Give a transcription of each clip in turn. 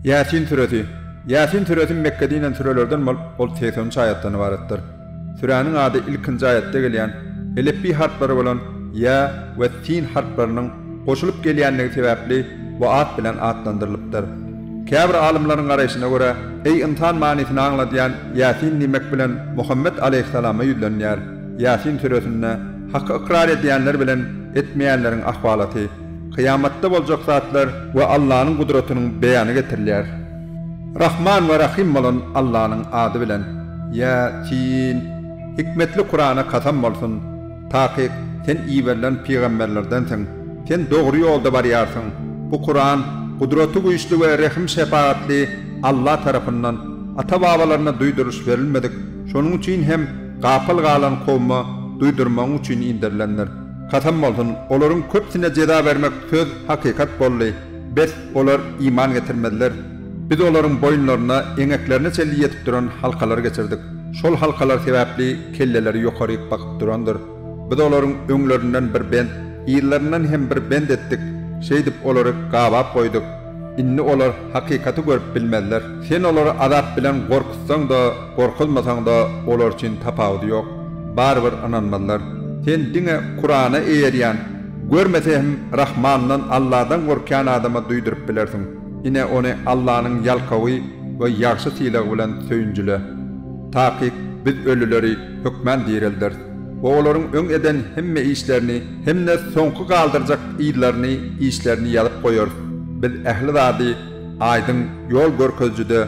Ýasin süresi. Ýasin süresi Mekgede inen sürelerden bolup, ol segsen üç aýatdan ybaratdyr. Süräniň ady ilkinji aýatda gelýän Elepbi harplary bolan Ýa we Sin harplarynyň goşulyp gelýändigi sebäpli bu at bilen atlandyrylypdyr. Käbir alymlaryň garaýşyna görä, Eý, ynsan manysyny aňladýan Ýasin diýmek bilen Muhammet alaýhyssalama ýüzlenilýär. Ýasin süresinde Haky ykrar edýänler bilen etmeýänleriň ahwalaty, kyýamatda boljak zatlar we Allanyň gudratynyň beýany getirilýär. Rahman we Rahym bolan Allanyň ady bilen. Ýa, sin! Hikmetli Kurana kasam bolsun! Takyk, Sen iberilen pygamberlerdensiň. Sen dogry ýolda barýarsyň. Bu Kuran, Gudraty-Güýçli we Rehim-Şepagatly Alla tarapyndan, ata-babalaryna duýduryş berilmedik, şonuň üçin hem, Gapyl galan kowma duýdurmagyň üçin indirilendir. Kasam bolsun, olaryň köpüsine jeza bermek söz hakykat boldy, bes, olar iman getirmezler. Biz olaryň boýunlaryna eňeklerine çenli ýetip duran halkalar geçirdik. Şol halkalar sebäpli kelleleri ýokaryk bakyp durandyr. Biz olaryň öňlerinden bir bent, yzlaryndan hem bir bent etdik, şeýdip olary gabap goýduk. Indi olar hakykaty görüp bilmezler. Sen olary azap bilen gorkuzsaň-da, gorkuzmasaň-da olar üçin tapawudy ýok. Barybir ynanmazlar. Sen diňe Kurana eýerýän, görmese hem Rahmandan, Alladan gorkýan adama duýduryp bilersiň. Ine ony Allanyň ýalkawy we ýagşy sylagy bilen söýünjile. Takyk Biz ölüleri hökmän direlderis. Olaryň öň eden hemme işlerini hem-de soňky galdyrjak yzlaryny, işlerini ýazyp goýarys. Biz ähli zady aýdyň ýol görkezijide,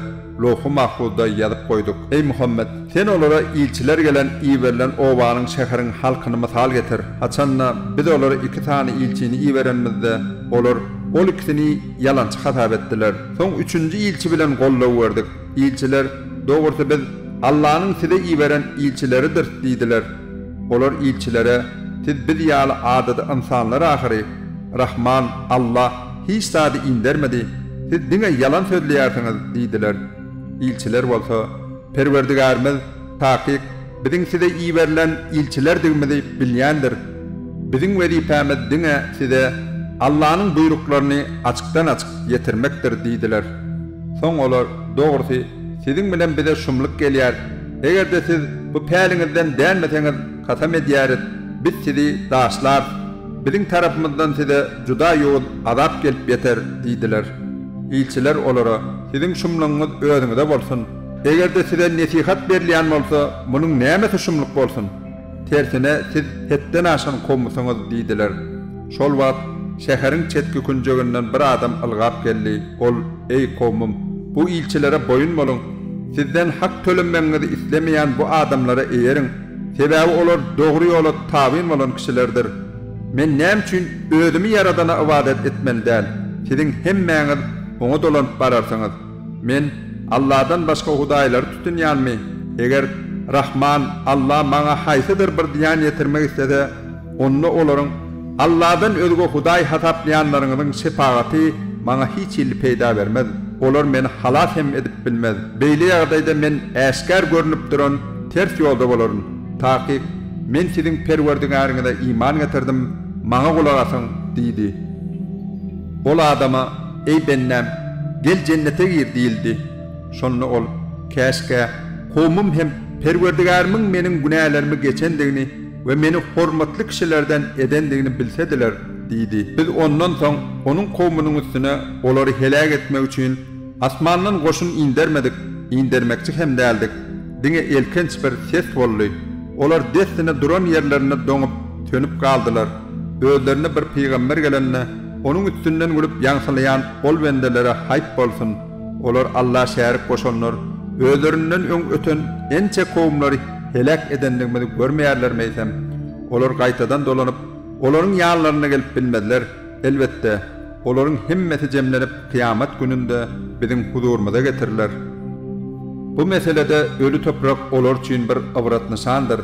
lowhy mahfuzda ýazyp goýduk. Eý Muhammet! Sen olara ilçiler gelen iberilen obanyň, şäheriň halkyny mysal getir. Haçan-da, Biz olara iki sany ilçini iberenimizde, olar ol ikisini ýalançy hasap etdiler. Soň üçünji ilçi bilen goldaw berdik. Ilçiler, Dogrusy biz Allanyň size iberen ilçileridiris diýdiler. Olar ilçilere, Siz biz ýaly adaty ynsanlar ahyry. Rahman, Alla, hiç zady indermedi, siz diňe ýalan sözleýärsiňiz diýdiler. Ilçiler bolsa, Perwerdigärimiz, takyk, Biziň size iberilen ilçilerdigimizi bilýändiris. Biziň wezipämiz diňe size Allanyň buýruklaryny açykdan-açyk ýetirmekdir diýdiler. Soň olar, Dogrusy, siziň bilen bize şumluk gelýär. Eger-de siz bu päliňizden dänmeseňiz, kasam edýäris, biz sizi daşlarys. Biziň tarapymyzdan size juda ýowuz azap gelip ýeter diýdiler. Ilçiler olara, Siziň şumlugyňyz özüňize bolsun! Eger-de size nesihat berilýän bolsa, munuň nämesi şumluk bolsun? Tersine, siz hetden aşan kowumsyňyz! diýdiler. Şol wagt şäheriň çetki künjeginden bir adam ylgap geldi. Ol, Eý, kowumym, bu ilçilere boýun boluň! Sizden hak tölenmegiňizi islemeýän bu adamlara eýeriň, sebäbi olar dogry ýola tabyn bolan kişilerdir. Men näme üçin özümi Ýaradana ybadat etmeli däl? Siziň hemmäňiz oňa dolanyp bararsyňyz. Men Alladan başga hudaýlary tutunýanmy? Eger Rahman Alla maňa haýsydyr bir zyýan ýetirmek islese, onda olaryň Alladan özge hudaý hasaplaýanlaryňyzyň şepagaty maňa hiç hili peýda bermez. Olar meni halas hem edip bilmez. Beýle ýagdaýda men äşgär görnüp duran ters ýolda bolaryn. Takyk, men siziň Perwerdigäriňize iman getirdim, maňa gulak asyň! diýdi. Ol adama Eý bendäm, gel jennete gir diýildi. Şonda ol, Käşgä, kowmym hem Perwerdigärimiň meniň günälerimi geçendigini we meni hormatly kişilerden edendigini bilsediler diýdi. Biz ondan soň onuň kowmunyň üstüne olary heläk etmek üçin asmandan goşun indermedik, indermekçi hem däldik. Diňe elkenç bir ses boldy. Olar dessine duran ýerlerinde doňup, sönüp galdylar. Özlerine bir pygamber gelende. Onuň üstünden gülüp ýaňsylaýan ol bendelere haýp bolsun, olar Alla şärik goşanlar, özlerinden öň öten ençe kowumlary heläk edendigimizi görmeýärlermi eýsem? Olar gaýtadan dolanyp, olaryň ýanlaryna gelip bilmezler, elbetde, olaryň hemmesi jemlenip kyýamat gününde biziň huzurymyza getiriler. Bu meselede öli toprak olar üçin bir ybrat-nyşandyr.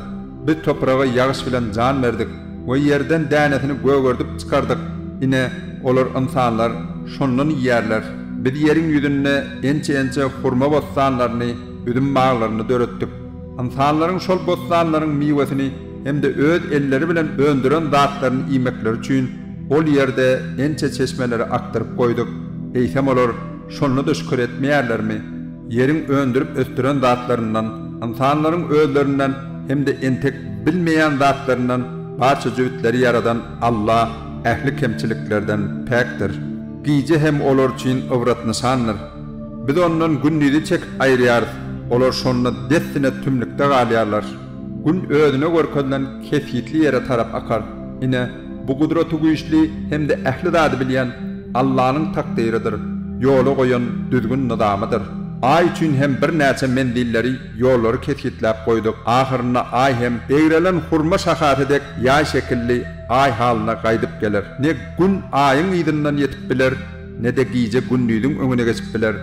Biz topraga ýagyş bilen jan berdik we ýerden dänesini gögerdip çykardyk, ine, olar ynsanlar şondan iýerler. Biz ýeriň ýüzünde ençe-ençe hurma bossanlaryny, üzüm baglaryny döretdik. Ynsanlaryň şol bossanlaryň miwesini hem-de öz elleri bilen öndüren zatlaryny iýmekleri üçin ol ýerde ençe çeşmeleri akdyryp goýduk. Eýsem olar şonda-da şükür etmeýärlermi? Ýeriň öndürip ösdüren zatlaryndan, ynsanlaryň özlerinden hem-de entek bilmeýän zatlaryndan barça jübütleri ýaradan Alla ähli kemçiliklerden päkdir. Gije hem olar üçin ybrat-nyşandyr. Biz ondan gündizi çekip aýyrýarys, olar şonda dessine tümlükde galýarlar. Gün özüne görkezilen kesgitli ýere tarap akar. Ine, Bu Gudratygüýçli hem-de ähli zady bilýän Allanyň takdyrydyr, ýola goýan düzgün-nyzamydyr. Aý üçin hem birnäçe menzilleri, ýollary kesgitläp goýduk. Ahyrynda Aý hem egrelen hurma şahasy dek ýaý şekilli Aý halyna gaýdyp geler. Ne Gün Aýyň yzyndan ýetip biler, ne-de gije Gündiziň öňüne geçip biler.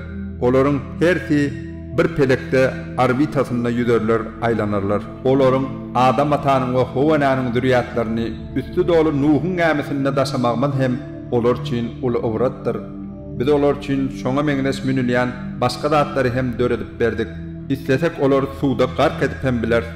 Olaryň hersi bir pelekde orbitasynda ýüzerler, aýlanarlar. Olaryň Adam atanyň we Howa enäniň zürýatlaryny üsti doly Nuhuň gämisinde daşamagymyz hem olar üçin uly ybratdyr. Biz olar üçin şoňa meňzeş münülýän başga zatlary hem döredip berdik. Islesek olary suwda gark edip hem bileris.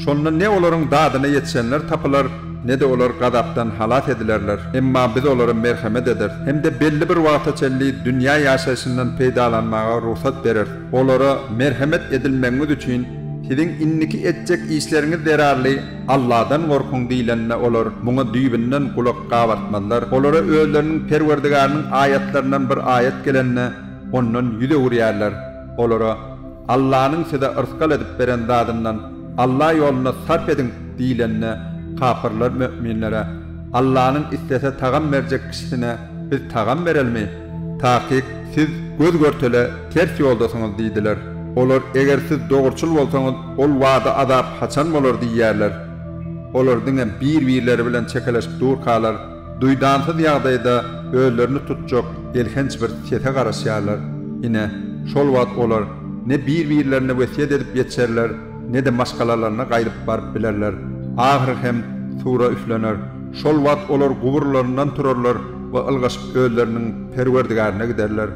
Şonda ne olaryň dadyna ýetişenler tapylar, ne-de olar gazapdan halas edilerler. Emma biz olara merhemet ederis hem-de belli bir wagta çenli dünýä ýaşaýşyndan peýdalanmaga rugsat bereris. Olara merhemet edilmegiňiz üçin siziň indiki etjek işleriňiz zerarly Alladan gorkuň diýlende olar muňa düýbünden gulak gabartmazlar. Olara özleriniň Perwerdigarynyň aýatlaryndan bir aýat gelende ondan ýüz öwürýärler. Olara, Allanyň size yrsgal edip beren zadyndan Alla ýolunda sarp ediň diýlende kapyrlar möminlere, Allanyň islese tagam berjek kişisine biz tagam berelimi? Takyk, siz göz-görtele ters ýoldasyňyz diýdiler. Olar, Eger siz dogruçyl bolsaňyz, ol wada azap haçan bolar diýýärler. Olar diňe bir-birleri bilen çekeleşip durkalar, duýdansyz ýagdaýda özlerini tutjak elhenç bir sese garaşýarlar. Ine, şol wagt olar ne bir-birlerine wesýet edip ýetişerler, ne-de maşgalalaryna gaýdyp baryp bilerler, ahyry hem sura üflener. Şol wagt olar guburlaryndan turarlar we ylgaşyp özleriniň Perwerdigärine giderler.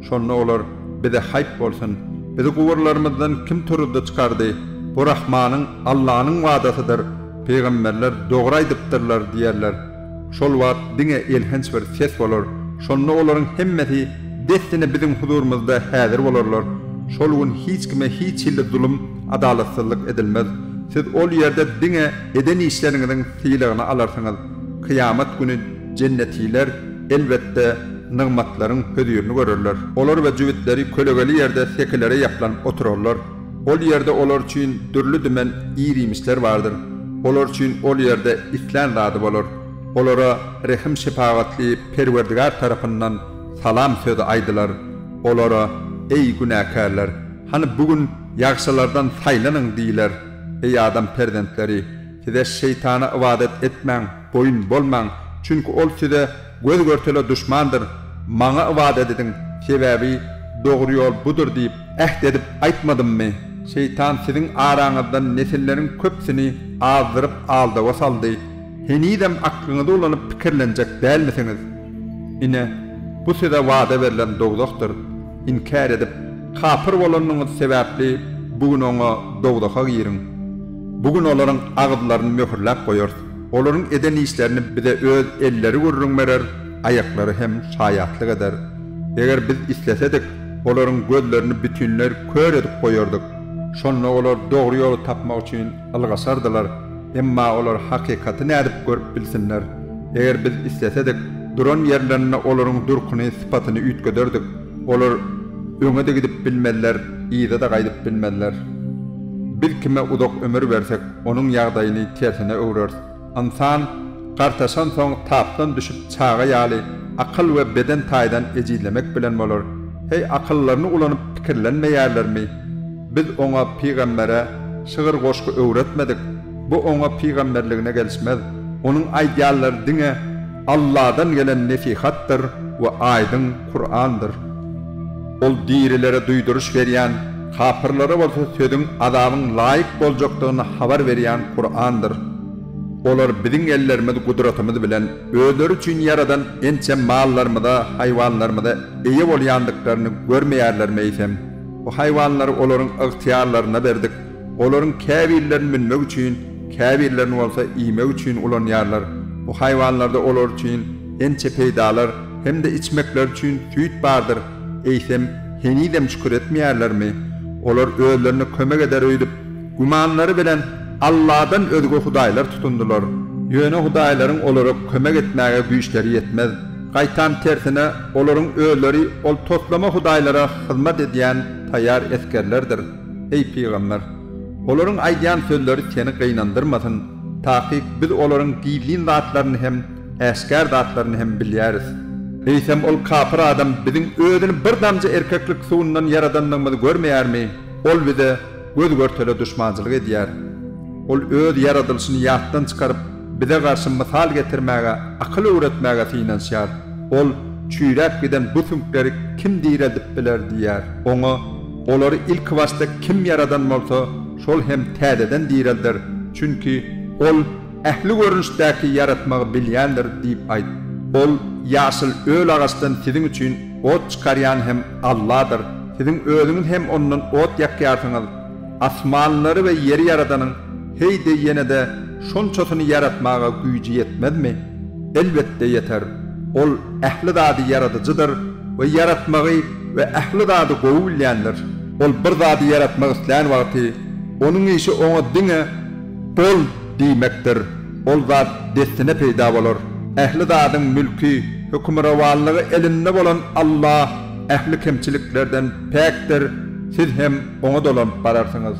Şonda olar, Bize haýp bolsun! Bizi guburlarymyzdan kim turuzdy, çykardy? Bu Rahmanyň, Allanyň wadasydyr. Pygamberler dogry aýdypdyrlar diýerler. Şol wagt diňe elhenç bir ses bolar, şonda olaryň hemmesi dessine biziň huzurymyzda häzir bolarlar. Şol gün hiç kime hiç hilli zulum, adalatsyzlyk edilmez. Siz ol ýerde diňe eden işleriňiziň sylagyny alarsyňyz. Kyýamat güni jennetiler, elbetde, nygmatlaryň hözirini görerler. Olar we jübütleri kölegeli ýerde sekilere ýaplanyp oturarlar. Ol ýerde olar üçin dürli-dümen ir-iýmişler bardyr. Olar üçin ol ýerde islän zady bolar. Olara rehim-şepagatly Perwerdigär tarapyndan salam sözi aýdylar. Olara, Eý, günäkärler! Hany bu gün ýagşylardan saýlanyň diýler. Eý, adam perzentleri! Size şeýtana ybadat etmäň! boýun bolmaň, çünki ol size göz-görtele duşmandyr. Maňa ybadat ediň, sebäbi dogry ýol budur diýip, äht edip aýtmadymmy? Şeýtan siziň araňyzdan nesilleriň köpüsini azdyryp aldawa saldy. Henizem aklyňyzy ulanyp pikirlenjek dälmisiňiz? Ine, bu size wada berlen dowzahdyr. Inkär edip, kapyr bolanyňyz sebäpli bu gün oňa, dowzaha, giriň. Bu gün olaryň agyzlaryny möhürläp goýarys. Olaryň eden işlerini bize öz elleri gürrüň berer, aýaklary hem şaýatlyk eder. Eger biz islesedik, olaryň gözlerini bütinleý kör edip goýardyk. Şonda olar dogry ýoly tapmak üçin ylgaşardylar. Emma olar hakykaty nädip görüp bilsinler? Eger biz islesedik, duran ýerlerinde olaryň durkuny, sypatyny üýtgederdik. Olar öňe-de gidip bilmezler, yza-da gaýdyp bilmezler. Biz kime uzak ömür bersek, Onuň ýagdaýyny tersine öwreris. Ynsan gartaşansoň tapdan düşüp çaga ýaly akyl we beden taýdan ejizlemek bilen bolar. Heý akyllaryny ulanyp pikirlenmeýärlermi? Biz oňa pygambere şygyr goşgy öwretmedik. Bu oňa pygamberligine gelişmez. Onuň aýdýanlary diňe Alladan gelen nesihatdyr we aýdyň. Kurandyr. Ol dirilere duýduryş berýän, kapyrlara bolsa sözüň, azabyň laýyk boljakdygyny habar berýän Kurandyr. Olar Biziň ellerimiz, gudratymyz bilen, özleri üçin ýaradan ençe mallarymyza, haýwanlarymyza eýe bolýandyklaryny görmeýärlermi eýsem? Bu haýwanlary olaryň ygtyýarlaryna berdik. Olaryň käbirlerini münmek üçin, käbirlerini bolsa iýmek üçin ulanýarlar. Bu haýwanlarda olar üçin ençe peýdalar hem-de içmekleri üçin süýt bardyr. Eýsem, henizem şükür etmeýärlermi? Olar özlerine kömek eder öýdüp, gümanlary bilen Alladan özge hudaýlar tutundylar. Ýöne hudaýlaryň olara kömek etmäge güýçleri ýetmez. Gaýtam tersine, olaryň özleri ol toslama hudaýlara hyzmat edýän taýýar esgerlerdir. Eý, pygamber! Olaryň aýdýan sözleri seni gynandyrmasyn, takyk biz olaryň gizlin zatlaryny hem, äşgär zatlaryny hem bilýäris. Eýsem ol kapyr adam biziň özüni bir damja erkeklik suwundan ýaradandygymyzy görmeýärmi? Ol bize göz-görtele duşmançylyk edýär. Ol öz ýaradylyşyny ýatdan çykaryp, bize garşy mysal getirmäge, akyl öwretmäge synanyşýar. Ol, Çüýräp giden bu süňkleri kim direldip biler? diýýär. Oňa, Olary ilkibaşda kim ýaradan bolsa, şol hem täzeden direlder, çünki Ol ähli görnüşdäki ýaratmagy bilýändir diýip aýt. Ol, Ýaşyl öl agaçdan siziň üçin ot çykarýan hem Alladyr. Siziň özüňiz hem ondan ot ýakýarsyňyz. Asmanlary we ýeri ýaradanyň heý-de ýene-de şonçasyny ýaratmaga güýji ýetmezmi? Elbetde ýeter. Ol ähli zady ýaradyjydyr we ýaratmagy we ähli zady gowy bilýändir. Ol bir zady ýaratmak islän wagty, Onuň işi oňa diňe Bol! diýmekdir. Ol zat dessine peýda bolar. Ähli zadyň mülki, hökümrowanlygy elinde bolan Alla ähli kemçiliklerden päkdir, siz hem Oňa dolanyp bararsyňyz.